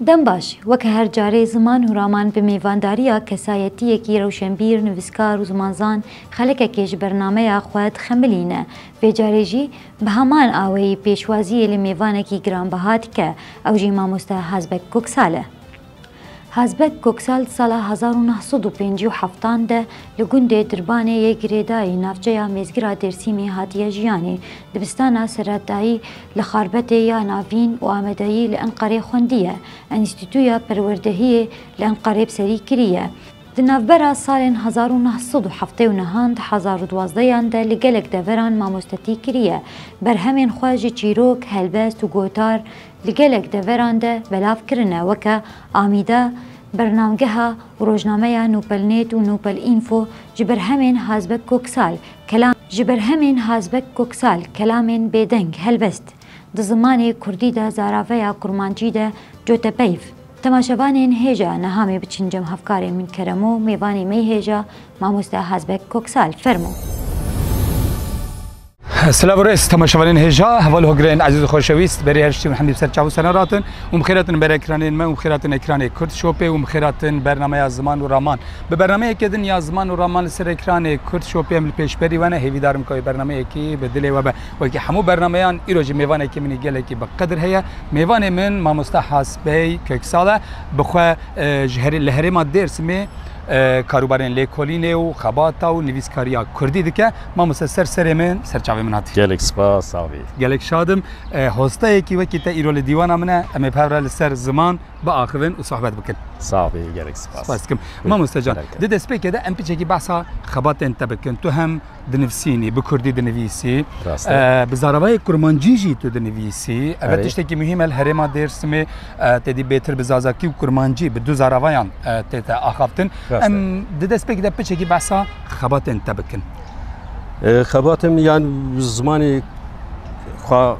Dem baş, weke her carê ziman û raman bi mêvandariya kesayetiyekî rewşenbîr, nivîskar û zimanzan xelekekê ji bernameya xwe dixemilîne, vê carê jî bi heman aweyî pêşwaziyê li mêvanekî giranbeha dike, ew jî mamoste Hazbek Koksal e. Hazbek Koksal di sala hezar û neh sed û pêncî û heftan de li gundê Dirbanê yê Girêdayî navçeya mêzgira Dêrsimê hatiye jiyanê, dibistana serredayî Li Xarbetê ya Navîn û Amedayî li Enqerê xwendiye. Enîstîtuya Perwerdehiyê li Enqerê bi serî kiriye. Di navbera salên hezar û neh sed û heftê û nehan di hezar û duwazdeyan de li gelek deveran mamostetî kiriye. Berhemên xwe ji çîrok, helbest û gotar li gelek deveran de belav kirine weke Amîda, Bernamgeha Rojnameya Nûpelnêt û Nûpel Înfo ji berhemên Hazbek Koksal, Kelam, ji berhemên Hazbek Koksal, kelamên bêdeng, helbest, di zimanê kurdî de zaraveya kurmancî de cote peyv. Temaşevanên hêja nehamê biçin cem hevkarê min keremo mêvanê mey hêja mamoste Hazbek Koksal. Fermo. Silav rêz temaşevanên hêja heval hogirên ezîz û xoşewîst berê her ştî hemî ser çav û sener hatin û mixêratin ber ekranên me û mixêratin ekranê Kurd Shopê û mixêratin bernamaya ziman û raman. Bi bernameyekê din ya ziman û raman li ser ekranê Kurd Shopê em li pêşberî we ne. Hêvîdar im ka wê bernameyekî bi dilê we be. Wekî hemû bernameyan îro jî mêvanekî min ê gelekî bi qedir heye. Mêvanê min Mamoste Hasbey Köksal e. Bi xwe ji herê li herêma Dêrsimê karûbarên lêkolînê û xebata û nivîskariya Kurdî dike. Mamoste ser serê min ser çavê min hatî. Gelek spas savê. Gelek şad im. Hosteyekî wekî te îro li dîwana min e. Em ê bi hev re li ser ziman. biaxivin û sohbet bikin. Saxbî gelek spas. Spas dikim. Mamoste can, di destpêkê de em piçekî behsa xebatên te bikin. Tu hem dinivsînî, bi Kurdî dinivîsî. Rast e. Bi zaravayê kurmancî jî tu dinivîsî. Ev tiştekî muhîm e li herêma Dêrsimê tedî bêtir bi zazakî û kurmancî bi du zaravayan tê te axaftin. Em di destpêkê de piçekî behsa xebatên te bikin. Xebatim yan zimanê xwe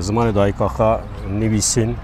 zimanê dayika xwe nivîsîn.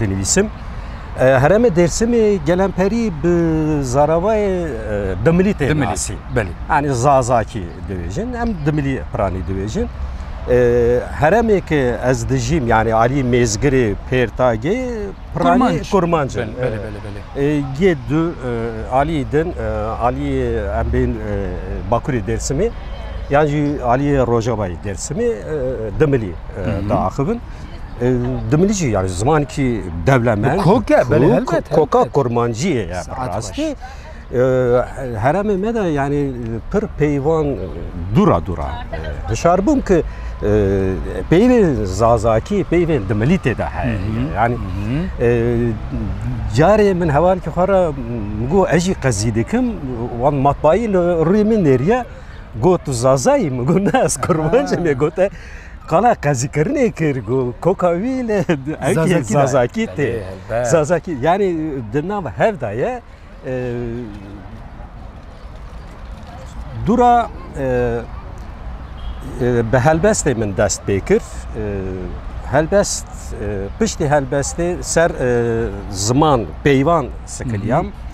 dinivîsim. Herêmê Dêrsimê gelemperî bi zaravayê dimilî tê nasî. Anî zazakî dibêjin, em dimilî piranî dibêjin. Herêmê ki ez dijîm yanî alî mêzgirê pêrtagê piranî kurmanc in. Gê du alî din alî em bên bakurê Dêrsimê yan jî alî Rojavayê Dêrsimê dimilî diaxivin. Dimilici yani zaman ki devlemen koke elbet koka kurmanciyê ya rastî heremê me de yani pir peyvan dura dura hişar bûm ki peyvên zazakî peyvên dimilîtê de heye yani carê min hewan ki xwe re got ez jî qezî dikim wan matbayî li rûyê min nêriye got tu zazayî min got ne ez kurmancim ê gote Qala qezîkirinê kir ku koka wî li enkê Zazakî tê. Zazakî yanî di nav hev da ye. Dûra bi helbestê min dest pê kir. Helbest piştî helbestê ser ziman peyvan sikiliyam.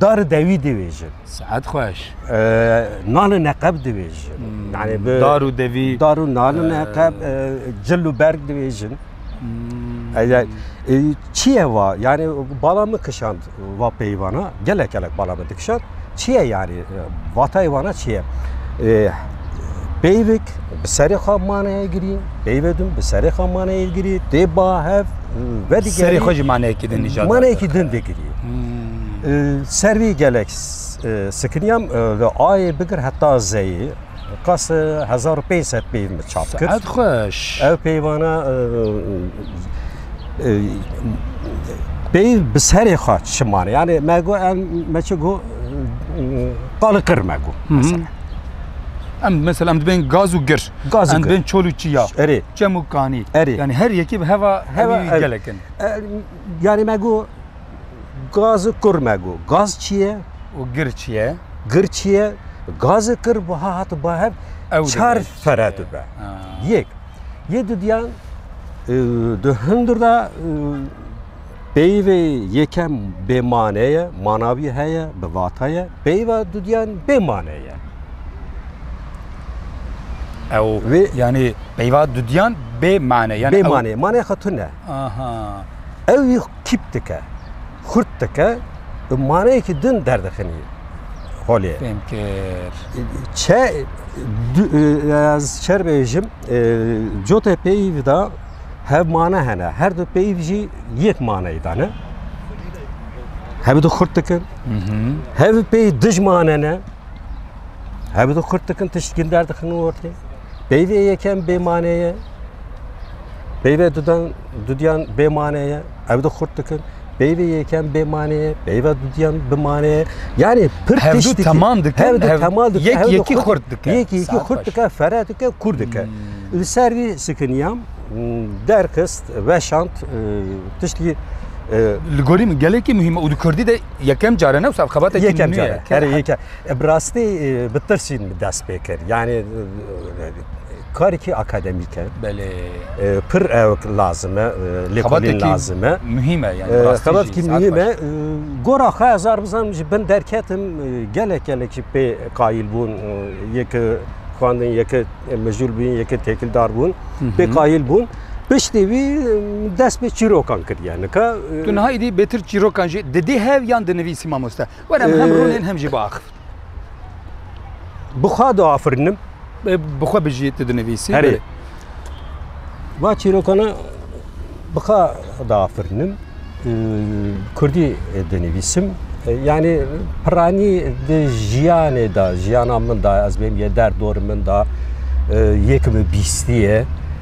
Dar dewî divêjin. Sihet xweş. Nalin eqeb divêjin. Yani bi dar û devî. Dar û nalin eqeb cil û berg divêjin. Çiye va yani bala min kişand va peyvana gelek gelek bala min dikişand. Çiye yani vatayê vana çiye? Peyvik bi serê xwe maneye girî, peyvê din bi serê xwe maneye girî, tê ba hev vedî serê xwe jî maneyekî din nîjad maneyekî din digirî. Ser wî gelek sikiniyam li ayê bigir heta zeyê qas 1500 peyv min çap kir. Ev xweş. Ev peyvana peyv bi serê xwe çi maneye. Yani me got me çi got qalikir me got. Em mesela em dibên gaz û gir. Gaz û em gir. dibên çol û çiya. Erê. Çem û kanî. Erê. Yani her yekê bi heva Heva hevî ev. gelek in. E, Yani me got gaz û kur me got. Gaz çi ye? Û gir çi ye? Gir çi ye? Gaz û kur buha hati ba hev Ew çar dibe. fere dibe. Ha. Yek. Yê dudiyan e, di hundir de e, Peyvê yekem bê mane ye, manavî heye, bi vata ye. Peyva dudyan bê mane ye. Ew Vê- yani peyva dudyan bê mane yani Bê ew- mane, mane xatun ne. Aha. Ew yî tîp dike, xurt dike, bi maneyekî din derdixinî holê. Fêm kir. Çe du- e, ez çer bêjim e, cotê peyv da Hev mane hene. Her du peyv jî yek maneyê dane. Hev du xurt dikin. Hev pey dij mane ne. Hev du xurt dikin tiştkin der dixin ortê. Peyvê yekem bê maneye. Peyvê dudan dudiyan bê maneye. ev de xurt dikin. Peyve yekem bê manê, peyve dudiyan bi manê. Yani pir Hevdu tişt dikin. teman dikin, Hevdu hev- teman dikin. yek hevdu yekî xurt- xurt dikin. Yek yekî Saet xurt baş. dikin, fere dikin, kur dikin. Hmm. Li ser vî sikiniyam derxist, veşand, e, tiştî e, Li gorî min gelekî muhîm e û di Kurdî de yekem care ne wisa xebatekî yekem nû ye. care. Her yekem. E, Bi rastî e, bi tirsîn dest pê kir. Yani e, Karekî akademîk e. Belê. Pir ewk lazim e, lêkolîn lazim e. Muhîm e yani. Xebatkî muhîm e. Gora xwe ez ar bizanim ji bin derketim gelek gelek jî pê qayîl bûn yek xwendin yek mijûl bûn yek têkildar bûn pê qayîl bûn. Piştî wî dest bi çîrokan kiriye nika. Tu niha êdî bêtir çîrokan jî didî hev yan dinivîsî mamoste. Were em hem rûnên hem jî biaxivin. Bi xwe diafirinim. Bi xwe bijî tu dinivîsî. Herê. Va çîrokana bi xwe diafirinim. Kurdî dinivîsim. Yani piranî di jiyanê de, jiyana min de ez bêm yê der dor min de yek mi bîstiye.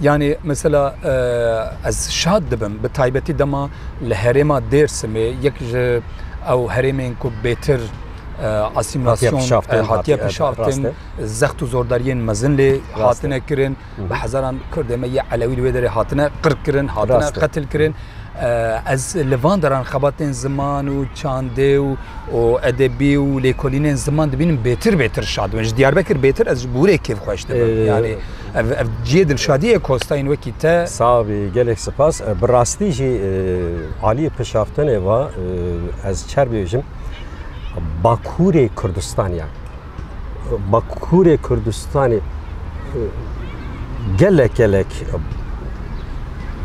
Yanî mesela ez şad dibim bi taybetî dema li herêma Dêrsimê yek ji ew herêmên ku bêtir asîmîlasyon hatiye pişaftin, zext û zordariyên mezin lê hatine kirin, bi hezaran Kurdê me yê Elewî li wê derê hatine qirkirin, hatine qetilkirin. Ez li van deran xebatên ziman û çandê û edebî û lêkolînên ziman dibînim bêtir bêtir şad dibim. Ji Diyarbekir bêtir ez ji Bûrê kêfxweş dibim. Ev ev ciyê dilşadiyê Kostayên wekî te. Sabi gelek sipas. Bi rastî jî aliyê pişaftinê va ez çer bêjim Bakurê Kurdistanê ya. Bakurê Kurdistanê gelek gelek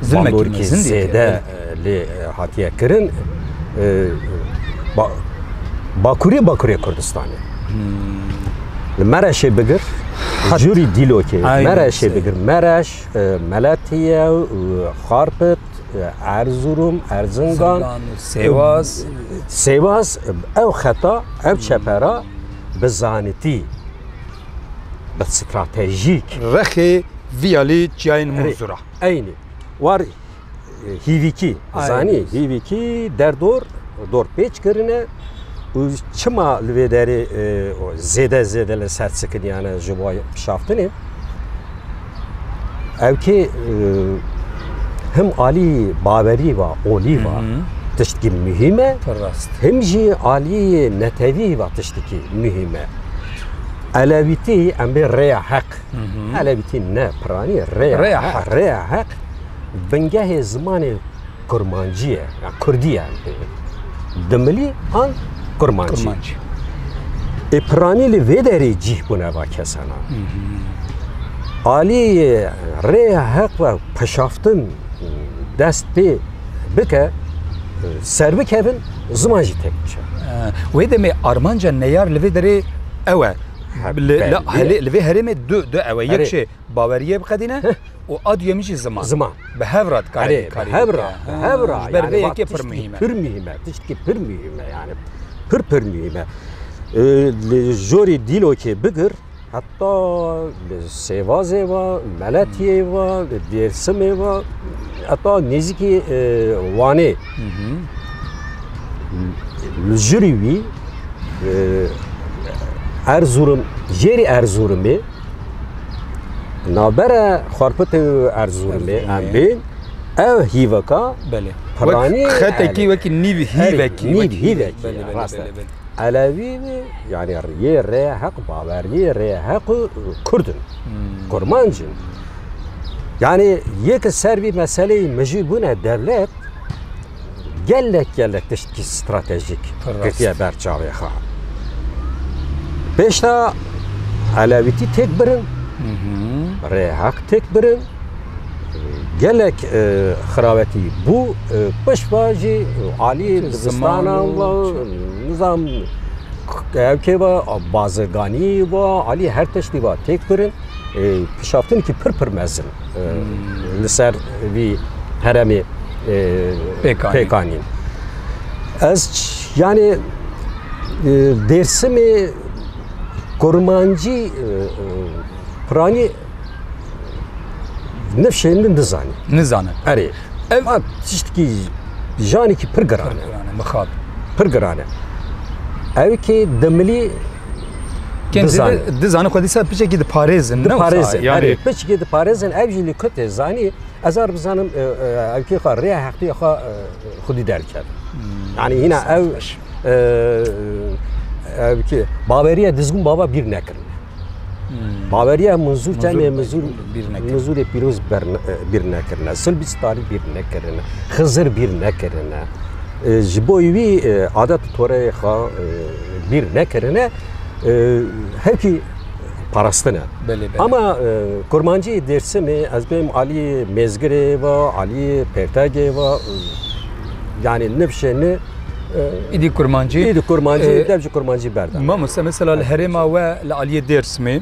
zilmekî zêde lê hatiye kirin Bakurê Bakurê Kurdistanê. Li Mereşê bigir jûrî dîlokê Mereşê bigir Mereş, Meletiye, Xarpit, Erzurum, Erzingan, Sêwas, Sêwas ew xeta ev çepera bi zanitî bi stratejîk. Rexê viyalî çiyayên Munzura. Eynî. War hîvîkî zanî hîvîkî derdor dor pêç kirine û çima li vê derê zêde zêde li ser sikiniyane ji bo pişaftinê ew kê him alî baverî va olî va tiştkî muhîm e him jî aliyê netewî va tiştkî muhîm e elewîtî em bê rêya heq elewîtî ne piranî rêya heq Bingehê zimanê kurmancî ye ya kurdî ye em pê yê dimilî an kurmancî. Ê piranî li vê derê cîh bûne va kesanan. Aliyê ye rêya heq ve peşaftin dest pê bike ser bikevin ziman jî têk biçe. Wê demê armanca neyar li vê derê ew e. Li vê herêmê du ew e yek jî baweriyê biqedîne û a duyemî jî ziman. Ziman. Bi hev re dikare Erê, bîkarî hev re, bike. hev re. Ji ber Yani vê bak yekê pir tiştî muhîm e. Pir muhîm e, tiştî pir muhîm e yani. Pir pir muhîm e. Ee, Li jorê dîlokê bigir heta li Sêvazê ve, Meletiyê ve, li Dêrsimê ve, heta nêzîkî e, Wanê. Li jirî wî e, Erzurum, jêrî Erzurumê Nabere xwarpitê Erzurumê em bên ev hîveka Belê. Piranî xetekî wekî nîv hîvekî nîv hîvekî rast e. Elewî yani riyê rê heq baweriyê rê heq û Kurdin. Kurmancin. Yani yê ki ser vî meseleyî mijî bûne dewlet gelek gelek tiştî stratejîk girtiye ber çavê xwe. Pêşta Elewîtî têk birin, rêheq têk birin, gelek e, xirawetî bû e, pişva jî alî dibistana nizam ev kê va bazirganî va alî her tiştî va têk birin e, pişaftinekî pir pir mezin. li ser vî heremê pêkanîn. Ez yanê Dêrsimê kurmancî piranî nifşên min nizanî. Nizane. Erê. Ev tiştkî janekî pir giran e. Mixab. Pir giran e. Ew kê demilî Dizan. Dizan xwe dîsa piçekî diparêzin. Diparêzin. Yani piçekî diparêzin ev jî li kutê zanî ez ar bizanim evkê xwe rêya heqî xwe xwedî derket. Yani hîna ev evkê baveriye dizgûn bava bîr nekirin. Baveriye mizûr temê mizûr mizûrê pîroz bîr nekirine. Sil bîst tarî bîr nekirine. Xizir bîr nekirine. Ji bo wî adet û toreyê xwe bîr nekirine hewkî parastine. Ama kurmanciyê Dêrsimê ez bêm aliyê Mêzgirê ve, aliyê Pêrtegê ve yanî niv şêni Îdî kurmancî. Îdî kurmancî, dev ji kurmancî berdana. Mamoste mesela li herêma we li aliyê Dêrsimê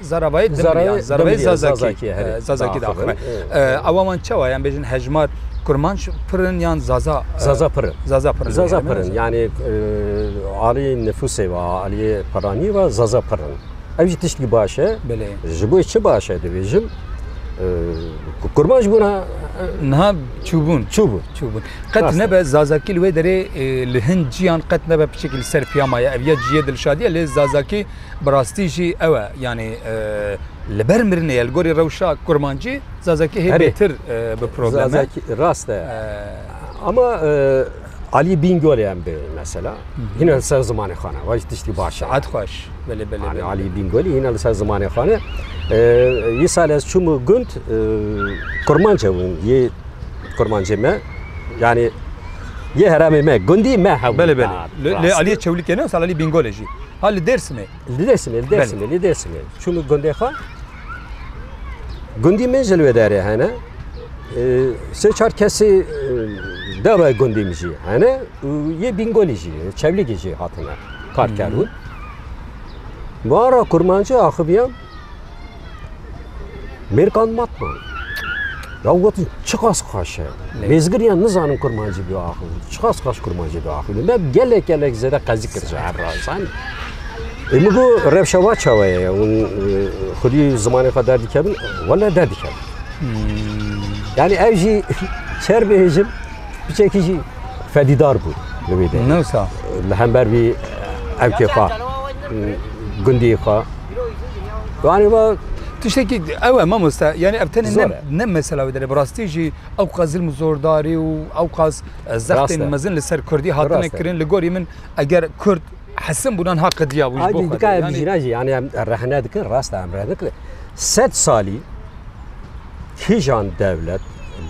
Zarabayê Dimrîya, Zarabayê Zazakî herî Zazakî diaxive. Ewa wan çawa yan bêjin hejmar Kurmanc pir in yan Zaza? Zaza pir in. Zaza pir in. Zaza pir in. Yanî alî nifûsê ve, aliyê piranî ve Zaza pir in. Ev jî tiştî baş e. Belê. Ji bo çi baş e dibêjim Kurmanc bûna niha çûbûn çûbûn çûbûn. Qet nebe Zazakî li wê derê li hin ciyan qet nebe piçekî li ser piyama ye. Ev ya ciyê Dilşadî ye lê Zazakî Bi rastî jî ew e yanî li ber mirinê ye li gorî rewşa kurmancî zazakî hê bêtir bi problem e. Rast e. Ama Alî Bîngolê em bê mesela hîna li ser zimanê xwe ne wa jî tiştî baş e. Saet xweş belê belê. Anî Alî Bîngolî hîna li ser zimanê xwe ne. Yê sal ez çûm gund kurmanc hebûn yê kurmancê me yanî yê herêmê me gundî me hebûn. Belê belê. Lê Alî Çewlîkê ne sal Alî Bîngolê jî. Ha li Dêrsimê? Li Dêrsimê, li Dêrsimê, li Dêrsimê. Çûm gundê xwe. Gundî min ji li wê derê hene. Sê çar kesî deva gundî min jî hene û yê Bîngolî jî, Çewlîgî jî hatine kar kerûn. Mara kurmancî axiviyam. Mêrkan matman. Ya gotin çiqas xweş e. Mêzgiriyan nizanin kurmancî bi axil. Çiqas xweş kurmancî bi axil. Me gelek gelek zêde qezî kir ji her razan. E min got rewşa wa çawe ye. Hûn e, xwedî zimanê xwe derdikevin. Wele derdikevin. Yani ev jî şer bêjim piçekî jî fedîdar bû li wê de. Newsa. Li hember vî evkê xwe gundiyê xwe Yani va tiştekî ew e mamoste yani ev tenê ne mesela wê derê bi rastî jî ew qas zilm zordarî û ew qas zextên mezin li ser Kurdî hatine kirin li gorî min eger Kurd hesin bûnan ha qediya bû jî yani rehne dikin rasta em re dikir sed salî Kîjan dewlet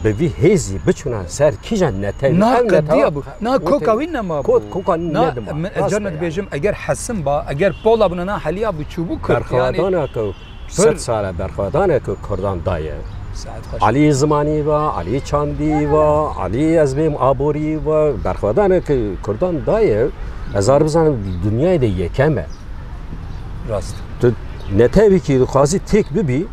bi vî hêzî biçûna ser kîjan netewî? Na qediya bû. Na koka wî nema bû. Koka nedima. Min ez carna dibêjim eger hesim ba, eger pola bûna na heliya bû çûbû Kurd. Berxwedana ku sed sala berxwedana ku Kurdan daye. Alî Zimanî va, Alî Çandî va, Alî ez bêm Aborî va, berxwedana ku Kurdan daye, ez ar bizanim dinyayê de yekem e. Rast. Tu netewîkî dixwazî têk bibî,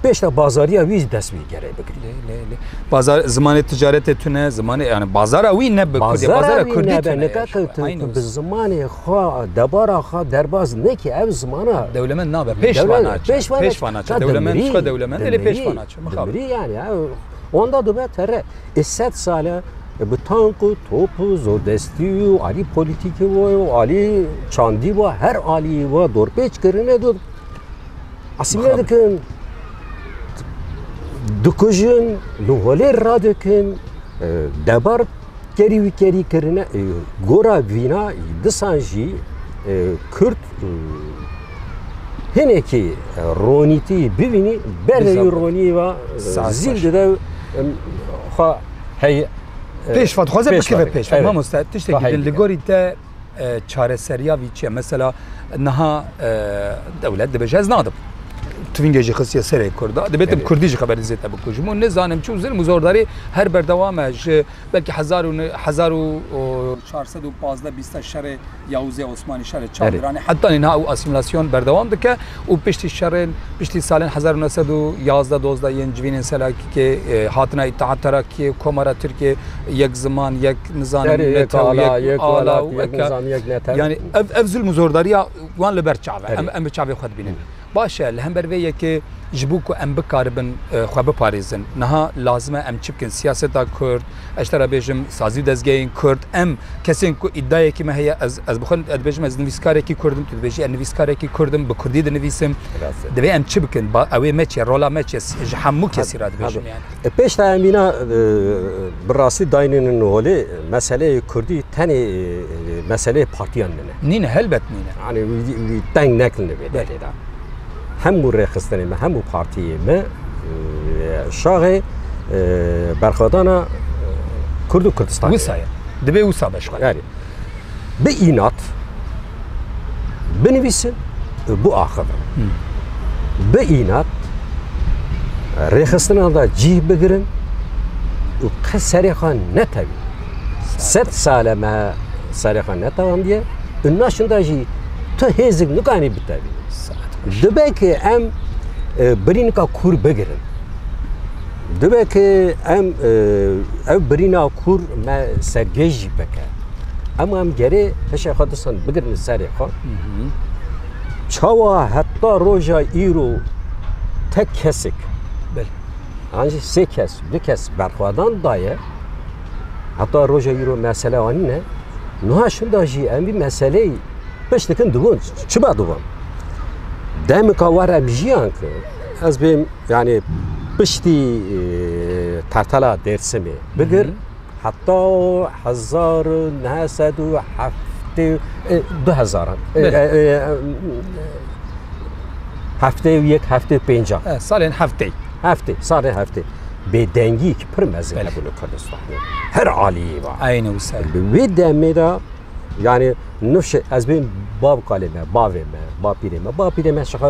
Pêşta bazariya wî dest wî gerê bigirî. Bazar zimanê ticaretê tune zimanê yani bazara wî ne bazara kurdî bi zimanê xwe debara xwe derbaz nekî ev zimana dewlemen nabe pêşvana pêşvana dewlemen xwe dewlemen lê pêşvana mixabirî yani onda dibe tere ê sed sale bi tank û top û zordestî û alî polîtîkî û alî çandî û her alî we dorpêç kirine Asimiye dikin, dikujin, li holê radikin, e, debar kerî wî kerî kirine. E, Gora vîna disan jî e, Kurd e, hinekî e, ronîtî bivînî berê Dîsa- ronî va Sas zîl baş. dide em, xwe hey e, Pêşva dixwaze pêşva bikeve dike. pêşva. Evet. Mamoste tiştekî Xwe din li heydikin. gorî te çareseriya vî çi ye? Mesela niha dewlet dibêje ez nadim. Tuvîngê jî xistiye serê Kurda. Dibêt em Kurdî jî xeberî zêde bikujim û nizanim çi û zilm û zordarî her berdewam e ji belkî hezar û hezar û çar sed û pazdeh bîste şerê Yawûzê Osmanî şerê Çar Diranê heta niha û asîmîlasyon berdewam dike û piştî şerên piştî salên hezar û neh sed û yazdeh dozdeh yên civînên Selakîkê hatina Îtîhat Terakîyê, Komara Tirkiyê, Yek Ziman, Yek nizanim yani ev ev zilm zordariya wan li ber çave em em bi çavê xwe dibînin. Baş e li hember vê yekê ji bo ku em bikaribin xwe biparêzin. Niha lazime em çi bikin siyaseta Kurd, ez te re bêjim sazî û dezgehên Kurd em kesên ku îdayekî me heye ez ez bi xwe dibêjim ez nivîskarekî Kurdim tu dibêjî ez nivîskarekî Kurdim bi Kurdî dinivîsim. Divê em çi bikin ew ê me çi ye rola me çi ye ji hemû kesî re dibêjim yani. Di pêş de em îna bi rastî daynînin holê meseleyê Kurdî tenê meseleyê partiyan nine. Nîne helbet nîne. Yanî wî teng nekilne vê derê de. Hemû rêxistinê me, hemû partiyê me şaxê berxwedana Kurd û Kurdistanê. Wisa ye. Divê wisa beşxwe. bi înat binivîsin û biaxivin. Bi înat rêxistinan da cîh bigirin û qe serê xwe netewî. Sed sale me serê xwe netewandiye û naşin da jî tu hêzik nikanî bitevî. Dibe ki em e, birînika kûr bigirin. Dibe ki em ev birîna kûr me sergê jî bike. Em em gerê hişê xwe distan bigirin serê xwe. Çawa heta roja îro tek kesik ancî sê kes du kes berxwedan daye heta roja îro mesele anî ne niha şinda jî em vî meseleyî piştikin dibûn çiba dibûn demika war em jiyan ki Ez bêm yani piştî tertela Dêrsimê bigir heta hezar û neh sed û heftê du hezaran heftê û yek heftê û pênca salên heftê heftê salên heftê bêdengî ki pir mezin hebûn li Kurdistanê her aliyê va. Eyne wisa. Li wê demê de Yani nuşe ez bim bav kalê me, bavê me, bapîrê me. Bapîrê me şixa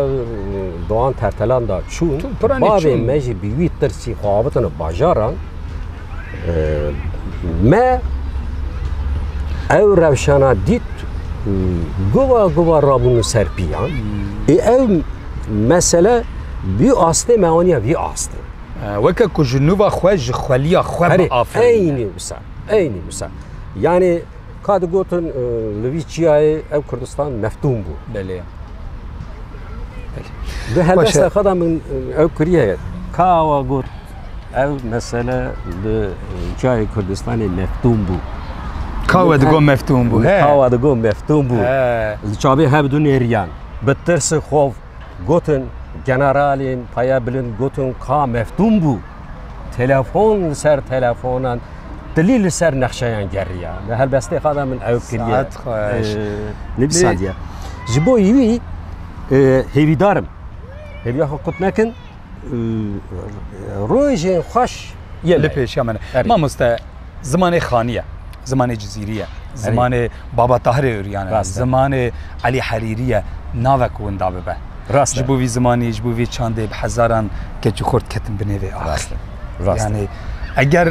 doğan tertelan da çûn. Bavê me jî bi wî tirsî xwe avitine bajaran. Me ew rewşana dît guva guva rabûn ser pîyan. Ê ew mesele bî astê me aniya vî astê. Weke ku ji nûva xwe ji xweliya xwe aferîn. Eynî wisa. Eynî wisa. Yanî ka digotin li vî çiyayê ev Kurdistan meftûm bû. Belê. Di helbesta xwe de min ew kiriye ka awa got ev mesele li çiyayê Kurdistanê meftûm bû. Kawa digo meftûm bû. Kawa digo meftûm bû. Li çavê hev du nêriyan bi tirsi xov Gotin, generalên peya bilind gotin ka Meftûn bû. Telefon li ser telefonan dilî li ser nexşeyan geriya. Li helbestê xwe de min ew kiriye. Saet xweş. Nîv saliye. Ji bo wî hêvîdarim. Hêviya xwe kut nekin. Rojê xweş li pêşiya min e. Mamoste zimanê xanî ye, zimanê cizîrî ye, zimanê Baba Tahirê Ûryan e, zimanê Elî Herîrî ye, nave ku winda bibe. Rast e. Ji bo vî zimanî, ji bo vî çandê bi hezaran keçî xort ketin binê vê axê. Rast e. Rast e. Yanî eger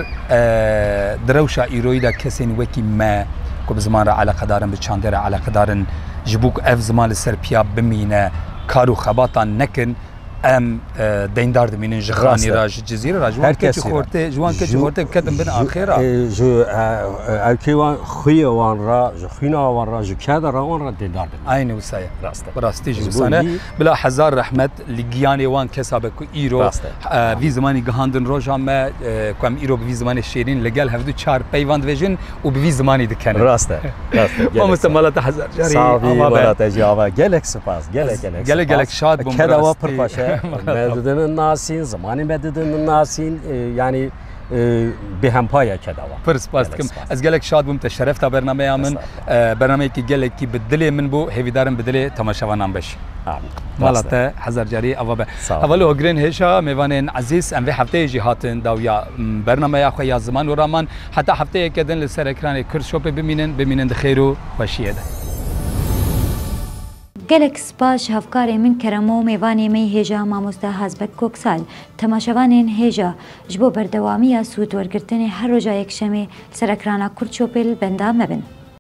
di rewşa îroyî de kesên wekî me ku bi ziman re eleqedar in, bi çandê re eleqedar in, ji bo ku ev ziman li ser piya bimîne kar û xebatan nekin, Em deyndar dimînin ji xanî ra ji cizîrê ra ji wan keçî xortê ji wan keçî xortê biketin bin axê ra. Ji erkê wan xuyê wan ra ji xwîna wan ra ji keda ra wan ra deyndar dimînin. Aynî wisa ye. Rast e. Bi rastî jî wisa ne. Bila hezar rehmet li giyanê wan kesa be ku îro vî zimanî gihandin roja me ku em îro bi vî zimanê şêrîn li gel hevdû çar peyvan dibêjin. û bi vî zimanî dikene. Rast e. Rast e. Mamoste mala te hezar carî ava be. Sağ ol mala te jî ava. Gelek spas. Gelek gelek spas. Gelek gelek şad bûm. Keda wa pir xweş e. Me di din nasîn, zimanê me di din nasîn. Yanî bi hempaya keda wa. Pir spas dikim. Ez gelek şad bûm te şeref da bernameya min. Bernameyekî gelekî bi dilê min bû. Hêvîdarim bi dilê temaşevanan beş. Amîn. Mala te hezar carî ava be. Heval û hogirên hêja mêvanên ezîz em vê hefteyê jî hatin dawiya bernameya xwe ya ziman û raman. Heta hefteyeke din li ser ekranê Kurd Shopê bimînin, bimînin di xêr û xweşiyê de. Gelek spas ji hevkarê min Kerem û mêvanê me hêja Mamoste Hazbek Koksal, temaşevanên hêja ji bo berdewamiya sûd wergirtinê her roja yekşemê li ser ekrana Kurd Shopê li benda me bin.